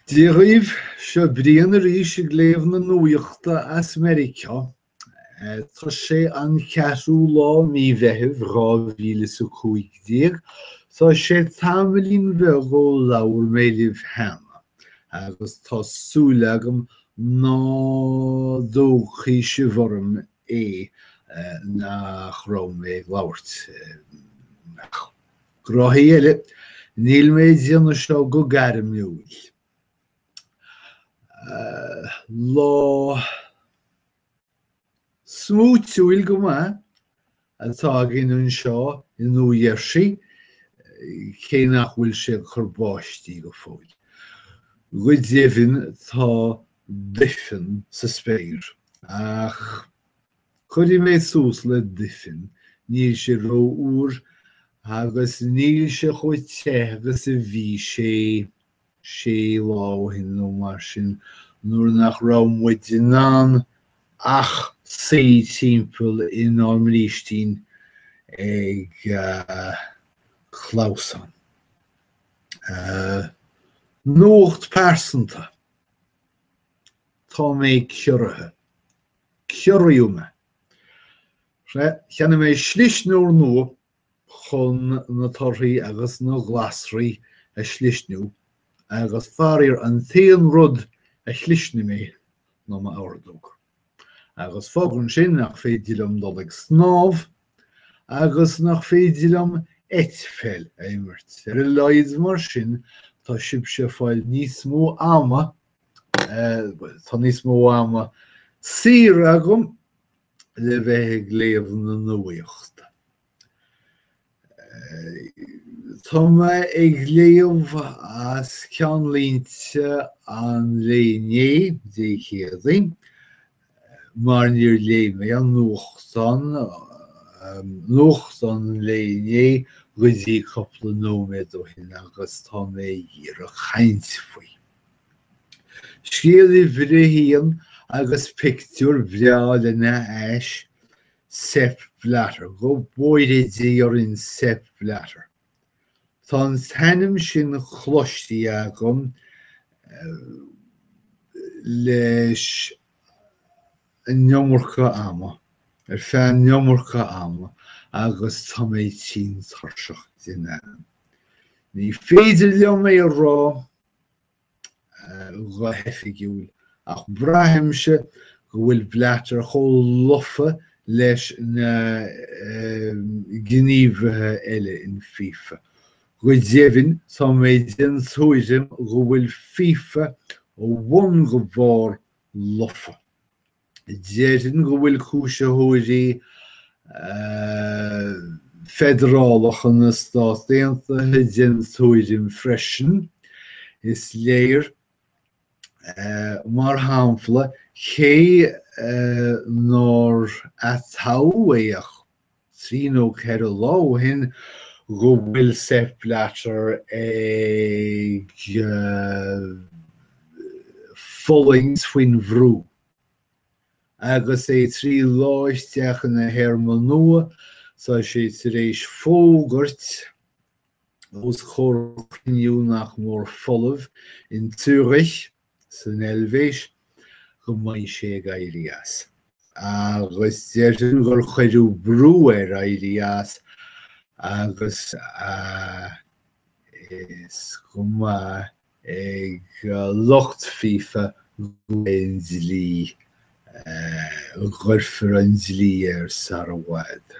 Dia dhaoibh, seo Brian arís ag léamh na nuachta as Meiriceá. Tá sé an ceathrú lá Mí Mheithimh dhá mhíle is a cúig déag. Tá sé tamaillín bheag ó labhair mé libh cheana, agus tá súil agam ná dtógfaidh sibh orm é nach raibh mé ag labhairt. Gnóthaí eile, níl mé ag déanamh seo go gairmiúil. Lá smúitiúil go maith atá againn anseo i Nua Gheirsí, cé nach bhfuil sé ag cur báistí go fóill. Go deimhin tá duifean sa spéir, ach Cuirfidh mé suas le duifean, níl sé ró-fhuar agus níl sé chomh te agus a bhí sé sé lá ó shin nó mar sin nuair nach raibh muid in ann ach suí timpeall inár mbrístín ag clamhsán. Nuacht pearsanta, Tá mé ciorraithe. Ciorraíodh mé. Cheannaigh mé slisneoir nua chun na torthaí agus na glasraí a shlisniú agus faraor an t-aon rud a shlisnigh mé ná m'ordóg. Agus fágann sin nach féidir liom dul ag snámh agus nach féidir liom eitpheil a imirt. Ar a laghad mar sin tá sibhse ag fáil níos mó ama Tá níos mó ama saor agam le bheith ag léamh na nuachta. Tá mé ag léamh as ceannlínte an lae inné, Dé Céadaoin, mar níor léigh mé an nuachtán, nuachtán an lae inné go dtí cúpla nóiméad ó shin agus tá mé ag iarraidh caint faoi. Scéal uimhir a haon agus pictiúr breá lena ais, Sepp Blatter, go bhfóire Dia orainn Sepp Blatter. Tá an t-ainm sin cloiste agam leis an iomarca ama, ar feadh an iomarca ama agus tá mé tinn tuirseach den ainm. Ní féidir liom é a rá go hoifigiúil, ach braithimse go bhfuil Blatter chomh lofa leis na gníomhaithe eile in FIFA. Go deimhin, tá mé den tuairim go bhfuil FIFA ó bhun go barr lofa. Déarfainn go bhfuil cúisitheoirí feidearálacha na Stát Aontaithe den tuairim sin freisin. Is léir, mar shampla, cé gur atoghadh é trí nó ceithre lá ó shin go bhfuil Sepp Blatter ag fulaingt faoin bhrú agus é trí lá isteach ina théarma nua, tá sé tar éis fógairt os comhair chruinniú nach mór folamh in Zürich, san Eilvéis go mbeidh sé ag éirí as. Agus déarfainn gur cuireadh brú air éirí as agus is go maith ag lucht FIFA go an dlí, go gcuirfear an dlí air sar i bhfad.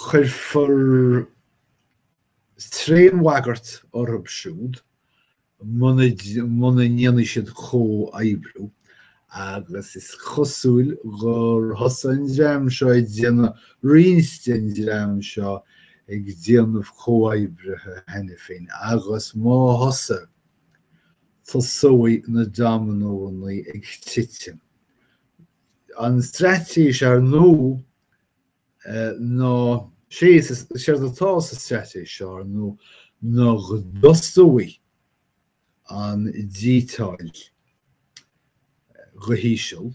Cuirfear tréanbhagairt orthu siúd muna ndéanfaidh siad comhoibriú agus is cosúil gur thosaigh an dream seo ag déanamh roinnt den dream seo ag déanamh comhoibrithe cheana féin agus má thosaigh, tosóidh na domanónna ag titim. An straitéis ar ndóigh! ná séard atá sa straitéis seo ar ndóigh ná go dtosóidh an díotáil go híseal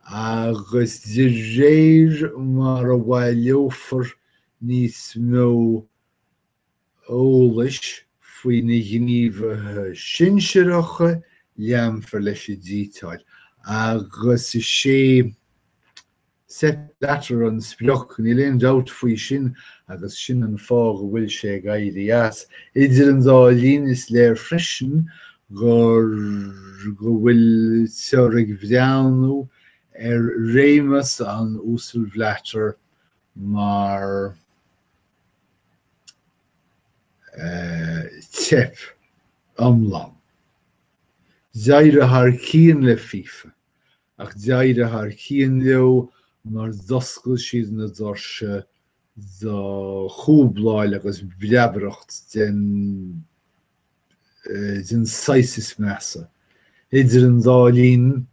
agus de réir mar a bhaileofar níos mó eolais faoi na gníomhaithe sinsearacha, leanfar leis an díotáil agus is é Sepp Blatter an sprioc, níl aon dabht faoi sin agus sin an fáth go bhfuil sé ag éirí as. Idir an dá linn, is léir freisin gur go bhfuiltear ag breathnú ar réimeas an Uasail Blatter mar teip iomlán. D'éirigh thar cíonn le FIFA, ach d'éirigh thar cíonn leo mar d'oscail siad na doirse do chúbláil agus breabaireacht den den saghas is measa. Idir an dá linn,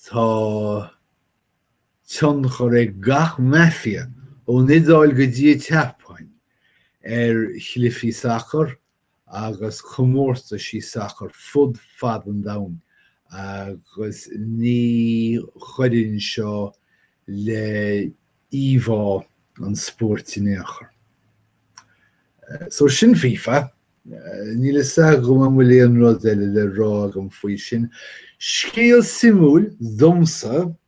tá. tionchar ag gach maifia, ón Iodáil go dtí an tSeapáin, ar chluichí sacair agus comórtais sacair fud fad an domhain agus ní chuireann seo le íomhá an spóirt in aon chor. So sin FIFA. Níl fhios agam an bhfuil aon rud eile le rá agam faoi sin. Scéal suimiúil domsa.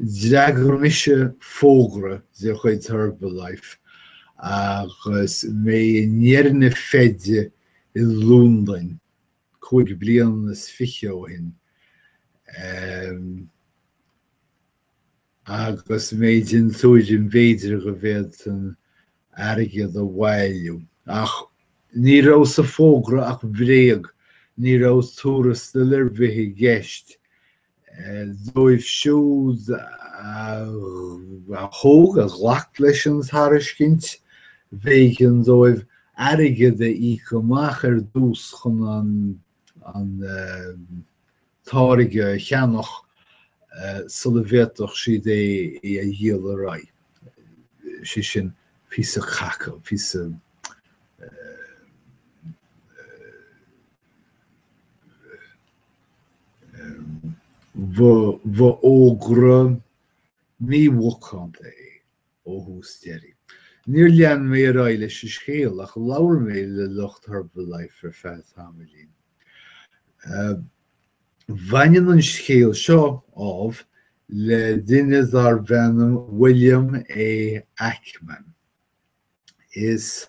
D'fhreagair mise fógra de chuid Herbalife agus mé i ndeireadh na feide i Londain cúig bliana is fiche ó shin. agus mé den tuairim b'fhéidir go bhféadfainn airgead a bhailiú. Ach ní raibh sa bhfógra ach bréag, ní raibh tuarastal ar bith i gceist. Dóibh siúd a thóg, a ghlac leis an tairiscint, b'éigean dóibh airgead a íoc amach ar dtús chun an an táirge a cheannach sula bhféadfadh siad é a dhíol ar aghaidh, sé sin píosa caca, píosa, ba fhógra mímhacánta é. ó thús deiridh. Níor lean mé ar aghaidh leis an scéal, ach labhair mé le lucht Herbalife ar feadh tamaillín. Baineann an scéal seo, ámh, le duine darb ainm William A. Ackman. Is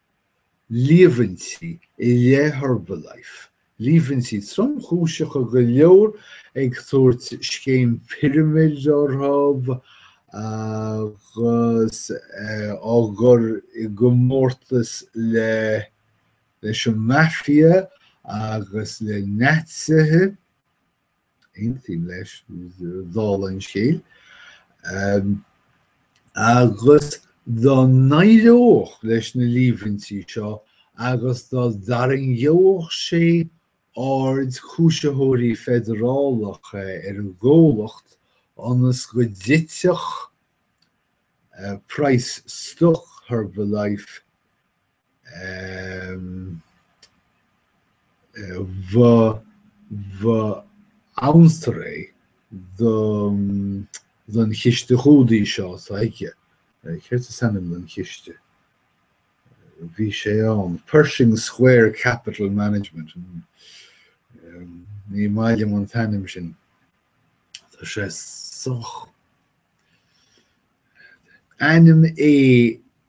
líomhaintí i leith Herbalife, líomhaintí tromchúiseacha go leor ag tabhairt scéim pirimid orthu agus á gcur i gcomórtas le, leis an Mafia agus le Naitsithe. Aontaím leis, dála an scéil. Agus dá n-éireodh leis na líomhaintí seo agus dá dtarraingeodh sé aird cúisitheoirí feidearálacha ar an gcomhlacht ionas go dtitfeadh price stoc Herbalife, ba amhantar é don chiste chúdaí seo atá aige. Céard is ainm don chiste? Bhí sé ann, Pershing Square Capital Management. Ní maith liom an t-ainm sin. Tá sé sách ainm é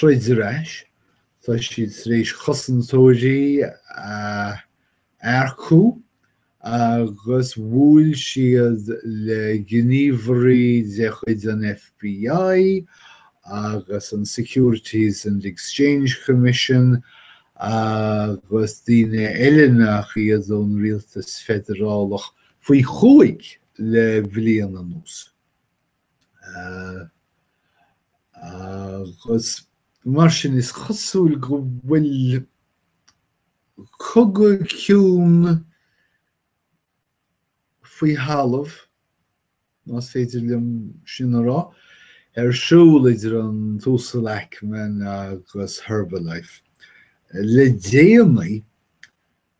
troid ar ais, tá siad tar éis cosantóirí a earcú agus bhuail siad le gníomhairí de chuid an FBI agus an Securities and Exchange Commission agus daoine eile nach iad ón rialtas feidearálach faoi chúig le bliain anuas. Agus mar sin, is cosúil go bhfuil cogadh ciúin faoi thalamh, más féidir liom sin a rá, ar siúl idir an tUasal Ackman agus Herbalife le déanaí.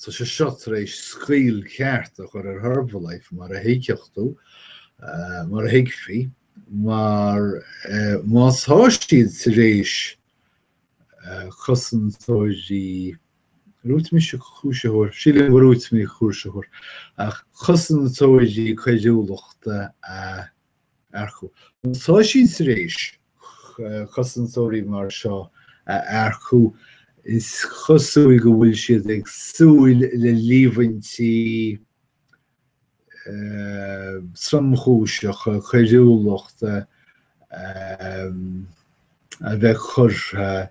Tá sé seo tar éis scaoll ceart a chur ar Herbalife, mar a thuigfeadh tú, mar a thuigfí, mar má tá siad tar éis cosantóirí, dúirt mise cúisitheoir, sílim, dúirt mé cúisitheoir, ach cosantóirí coiriúlachta a. earcú. Tá siad tar éis cosantóirí mar seo a earcú, is cosúil go bhfuil siad ag súil le líomhaintí tromchúiseacha coiriúlachta a bheith curtha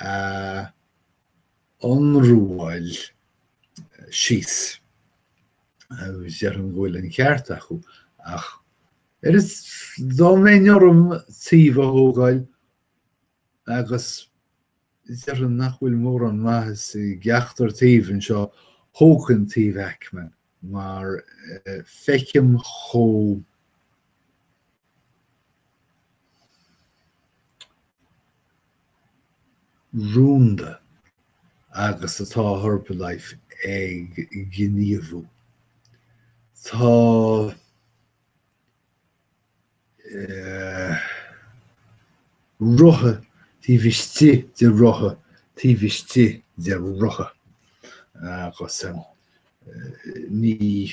a ionramháil síos, déarfainn go bhfuil an ceart acu, ach arís dá mbeinn orm taobh a thógáil, agus déarfainn nach bhfuil mórán maitheas i gceachtar taobh anseo, thógfainn taobh Ackman, mar feicim chomh rúnda agus atá Herbalife ag gníomhú. Tá rotha taobh istigh de rotha taobh istigh de rotha, agus ní.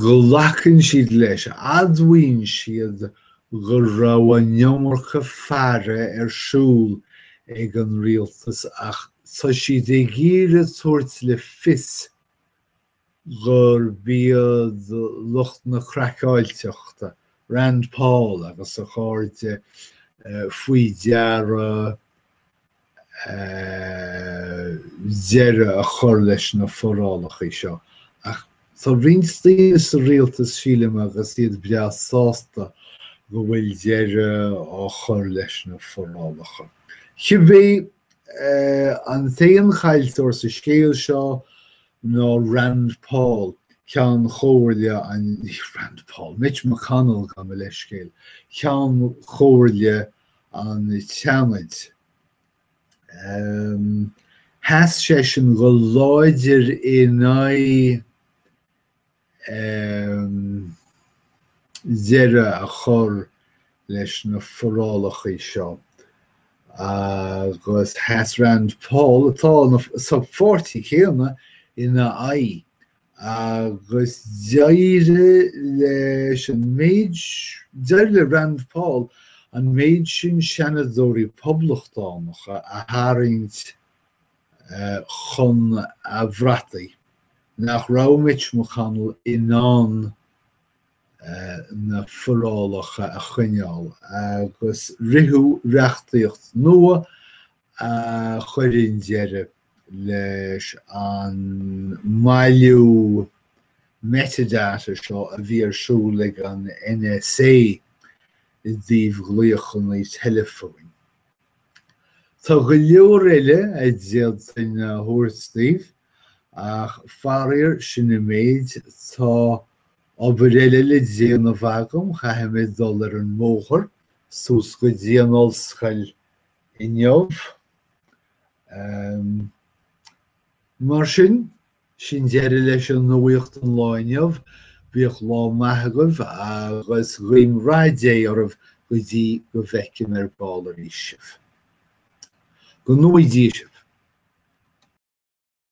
Glacann siad leis, admhaíonn siad, go raibh an iomarca faire ar siúl ag an rialtas ach tá siad ag iarraidh a thabhairt le fios gurb iad lucht na craiceáilteachta, Rand Paul agus a chairde, faoi deara deireadh a chur leis na forálachaí seo, ach tá roinnt daoine sa rialtas, sílim, agus iad breá sásta go bhfuil deireadh á chur leis na forálacha. Cibé, an t-aon chaillteoir sa scéal seo ná Rand Paul, Ceann Chomhairle an, ní Rand Paul, Mitch McConnell, gabh mo leithscéal, Ceann Chomhairle an tSeanaid. Sheas seisean go láidir in aghaidh deireadh a chur leis na forálachaí seo agus sheas Rand Paul, atá sa pháirtí céanna, ina aghaidh. Agus d'éirigh leis an méid, d'éirigh le Rand Paul an méid sin seanadóirí Poblachtánacha a tharraingt chun a bhrataí nach raibh Mitch McConnell in ann na forálacha a choinneáil agus ritheadh reachtaíocht nua a chuireann deireadh leis an mbailiú metadata seo a bhí ar siúl ag an NSA i dtaobh ghlaochanna teileafóin. Tá go leor eile a d'fhéadfainn a thabhairt daoibh, ach faraor, sin an méid. Tá obair eile le déanamh agam, caithfidh mé dul ar an mbóthar suas go dtí an ollscoil inniu. Mar sin, sin deireadh leis an nuacht an lá inniu. Bíodh lá maith agaibh agus guím rath Dé oraibh go dtí go bhfeicim ar ball arís sibh. Go ngnóthaí Dia sibh.